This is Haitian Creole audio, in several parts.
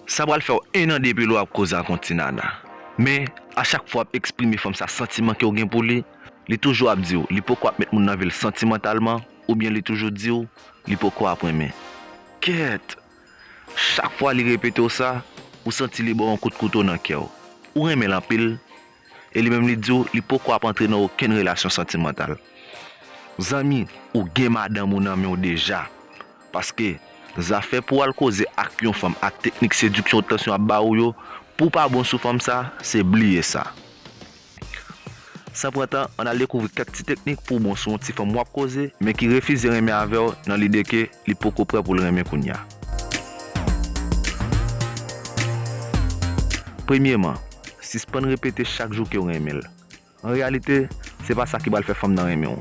Sa pral fèw 1 an depil wap koze ak yon ti nana men a chak fwa wap eksprime fanm sa santiman kew gen pou li, li toujou ap diw li poko ap met moun nan vil santimantalman oubyen li toujou diw li poko ap renmen kèèt chak fwa li repetew sa ou santi li baw yon kout kouto nan kèw ou renmenl anpil. e li menm li di w li poko ap antre nan okenn relasyon santimantal. Zanmi, ou gen madanm ou nan men w deja, paske zafè pou w al koze ak yon fanm ak teknik sediksyon ou tansyon ap ba ou yo, pou w pa bon sou fanm sa, se bliye sa. San pran tan, ann al dekouvri kèk ti teknik pou w bon sou yon ti fanm w ap koze, men ki refize renmen avè w nan lide ke, li poko prè poul renmen kounya. Premyeman, sispann repete chak jou kew renmenl. An reyalite, se pa sa ki pral fè fanm nan renmenw.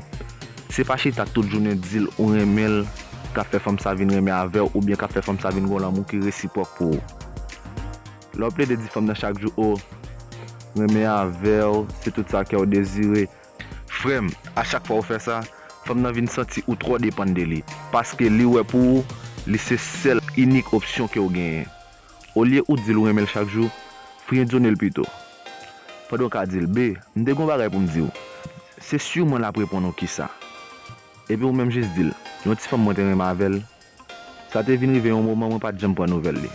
Se pa chita tout jounen dil ou renmenl kap fè fanm sa vin renmen avèw oubyen kap fè fanm sa vin gon lanmou ki resipwòk pou ou. Lèw plede di fanm nan chak jou oh renmen avèw se tout sa kèw dezire, Frèm, a chak fwa ou fè sa, fanm nan vin santi ou twò depann de li, paske li wè pou ou, li se sèl, inik opsyon ke'w genyen. Olye ou di'l ou renmen'l chak jou, friendzone'l pito. Pandan ou ka di'l, Be, m'te gon bagay pou'm di'w. Se sur mwen l'ap reponn ou kisa. Epi ou menm jis di'l, Yon ti fanm mwen te renmen avè'l, Sa te vin rive yon moman mwen pa t janm pran nouvèl li.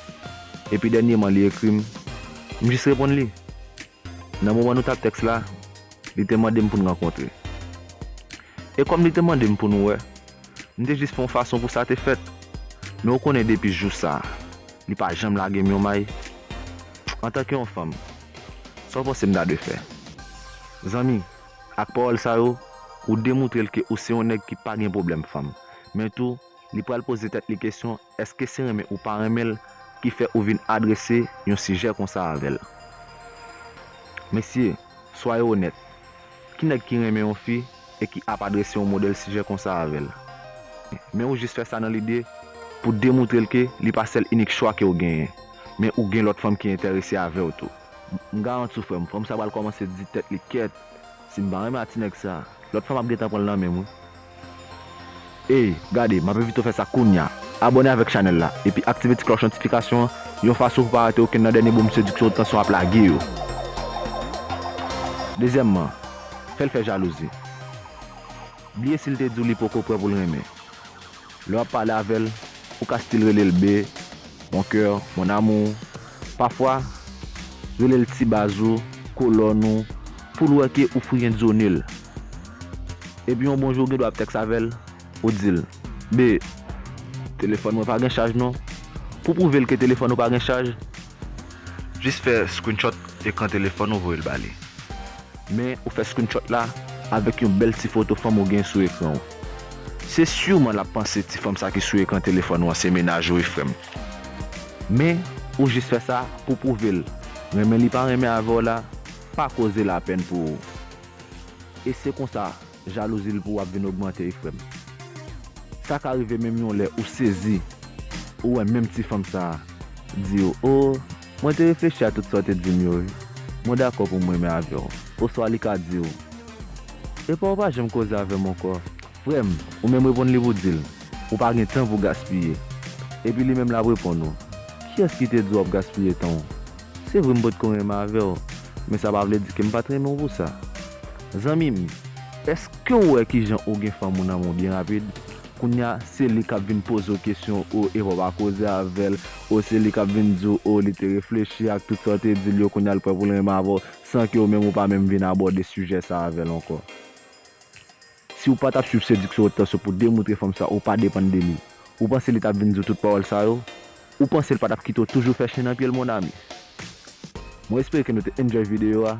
Epi dènyeman li ekri m, m jis reponn li. Nan moman nou t ap tèks la, li te mande m pou n rankontre. E kòm li te mande m pou nou wè, m te jis fè yon fason pou sa te fèt. Men ou konnen depi jou sa, li pa janm lage m yon may. Antanke yon fanm, sa w panse m ta dwe fè? Zanmi, ak pawòl sa yo, ou demoutre l ke ou se yon nèg ki pa gen pwoblèm fanm. men tou li pral poze tèt li kesyon èske se renmen ou pa renmen l ki fè ou vin adrese yon sijè konsa avè l. Mesye, swaye onèt, ki nèg ki renmen yon fi e ki ap adrese yon modèl sijè konsa avè l? Men ou jis fè sa nan lide pou demoutre l ke li pa sèl inik chwa ke ou genyen, men ou gen lòt fanm ki entèrese avè w tou. M garanti w frè m, fanm sa pral kòmanse di tèt li kèt, Sim pa renmen a ti nèg sa. Lòt fwa map gentan pranl nan menm wi. Ey gade map envite w fè sa kounya abòne avèk chanèl la epi aktive ti klòch notifikasyon an yon fason pou pa rate okenn nan dènye bonm sediksyon ou t tanson ap lage yo. Dezyèmman, fè l fè jalouzi. Bliye si l te di w li poko prè pou l renmen. Lè wap pale avè l, ou ka stil rele l be, mon coeur, mon amour, pafwa rele l ti baz ou, kolòn ou, pou l wè ke ou friendzone l. Epi yon bon jou ou gen dwa ap tèks avè l, ou di l, be, telefòn mwen pa gen chaj non. Pou pwouve l ke telefòn ou pa gen chaj, Jis fè screenshot ekran telefòn ou voye l ba li. Men ou fè screenshot la avèk yon bèl ti foto fanm ou gen sou ekran ou. Se surman l ap panse ti fanm sa ki sou ekran telefòn ou an se menaj ou wi frè m. Men ou jis fè sa pou pwouve l renmen li pa renmen avè w la pa koze lapèn pou ou. E se konsa Jalouzi l pou w ap vin ogmante wi frèm. Sa ka rive menm yon lè ou sezi ou wè menm ti fanm sa a di ou oo mwen te reflechi a tout sa w te di m yo wi mwen dakò pou m renmen avè w oswa li ka di ou epa ou pa janm koze avè m ankò frèm ou menm reponn li pou w di l ou pa gen tan pou w gaspiye epi li menm l ap reponn ou kiyès ki te di w ap gaspiye tan w se vre m potko renmen avè w men sa pa vle di ke m pa t renmen w pou sa. Zanmim, eskew wè kijan ou gen fanm ou nan men w byen rapid, kounya se li kap vin pozew kesyon oh epa w pa koze avèl oh se li kap vin diw oh li te reflechi ak tout sa w te dil yo kounya li prè poul renmen avèw san ke ou menm ou pa menm vin abòde sijè sa avèl ankò. Siw pa tap swiv sediksyon otan se pou demoutre fanm sa ou pa depann de li, ou panse li tap vin diw tout pawòl sa yo? Ou panse li pa tap kite w toujou fè chen nan pyel mon ami. Mwen espere ke nou te enjoy video a.